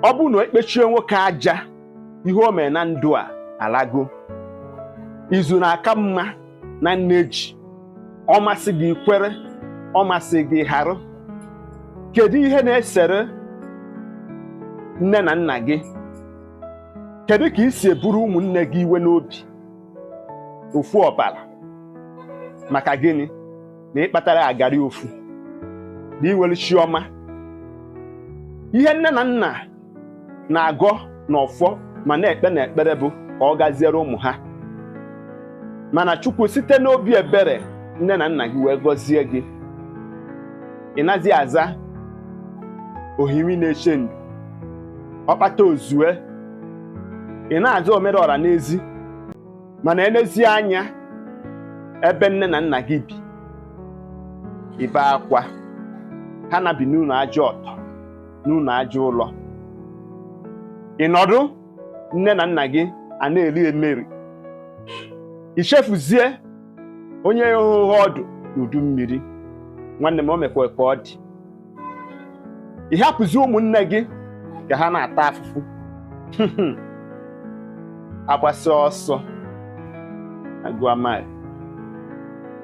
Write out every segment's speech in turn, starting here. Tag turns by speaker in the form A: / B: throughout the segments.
A: ọ bụrụ na ekpechie nwoke aja ihe o mere na ndụ a alago izu na-aka mma na nne ji ọ masị gị kwere ọ masị gị harụ kedu ihe na-esere nne na nna gị kedu ka i si eburu ụmụnne gị iwe n'obi ofu ọbara maka gịnị na ị kpatara agari ofu na i nwere chi ọma ihe nne na nna na-agọ n'ọfọ ma na-ekpe n'ekpere bụ ka ọ gaziere ụmụ ha mana chukwu site n'obi ebere nne na nna gị wee gọzie gị ị nazi aza osisi na-eche ndo ọkpata ozue ị na-aza omere ọra n'ezi mana elezie anya ebe nne na nna gị bi i bee akwa ha na-ebi n'ụlọ aja ọtọ n'ụlọ aja ụlọ ị nọdụ nne na nna gị a na-eri emeri i chefuzie onye horo gị ọdụ n'udu mmiri nwanne m o mekwa ka ọ dị ị hapụzi ụmụnne gị ka ha na-ata afụfụ agbasịa ọsọ agụa mile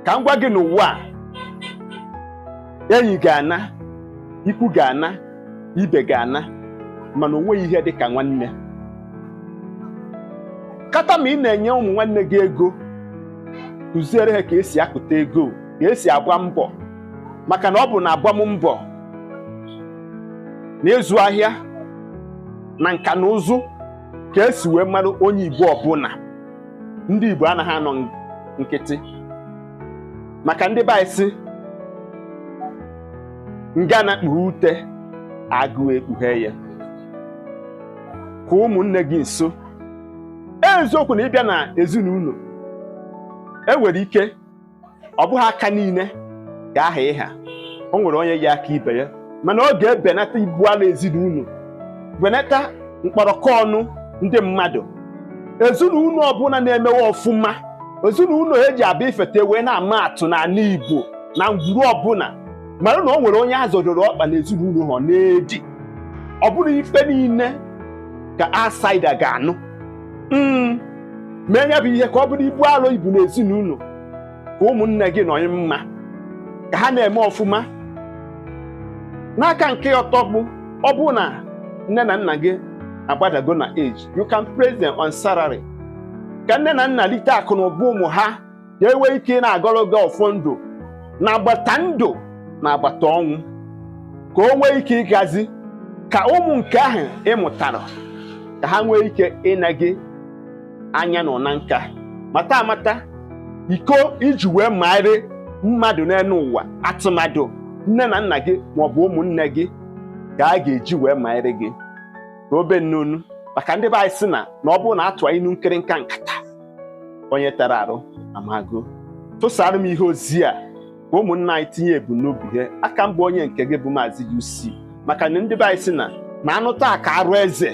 A: ka m gwa gị n'ụwa a enyi ga-ana ikwu ga-ana ibe ga-ana mana onweghị ihe dị ka nwanne kata ma ị na-enye ụmụ nwanne gị ego kụziere ha ka e si akụta ego ka e si agba mbọ maka na ọ bụ na agbam mbọ na ịzụ ahịa na nka na ụzụ ka e si wee mara onye Igbo ọbụla ndị Igbo anaghị anọ nkịtị maka ndị be anyị sị ngana kpughe ute agụụ ekpughe ya kpa ụmụnne gị nso eziokwu na ị bịa na ezinụlọ e nwere ike ọ bụghị aka niile ga-aha ịha o nwere onye ya-aka ibe ya mana ọ ga-ebenata ibu ala ezinụlọ benata mkpọrọkọ ọnụ ndị mmadụ ezinụlọ ọbụla na-emewe ọfụma ezinụlọ eji abịa ifete wee na-ama atụ n'ala Igbo na ngwuru ọbụla mara na o nwere onye a zọdoro ọkpa na ezinụlọ ha na-edi ọ bụrọ ife niile ka outsider ga-anụ mm. mee ya bụ ihe ka ọ bụrụ ibu alụ ibu n'ezinụlọ ka ụmụnne gị nọdị mma ka ha na-eme ọfụma n'aka nke ọzọ bụ ọ bụrụ na nne na nna gị agbadago na age you can place them on salary ka nne na nna lite akụ na ụba ụmụ ha ka e nwee ike ị na-agọrọ gị ọfọ ndụ n'agbata ndụ n'agbata ọnwụ ka o nwee ike ịgazi ka ụmụ nke ahụ ị mụtara ka ha nwee ike ine gị anya n'ụna nka mata amata iko i ji wee maarị mmadụ n'elu ụwa atụmadụ nne na nna gị maọbụ ụmụnne gị ka a ga-eji wee maarị gị ka obe nnunu maka ndị be anyị sị na na ọ bụrụ na a tụa inu nkịrịnka nkata onye tara arụ amago tụsara m ihe ozi a ka ụmụnna anyị tinye ebumnobi ha a ka m bụ onye nke gị bụ maazị UC maka na ndị be anyị sị na na a nụta ka arụ eze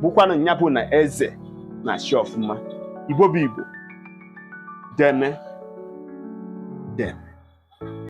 A: bụkwanụ nya bụ na eze na-achị ọfụma igbo bụ igbo deeme deeme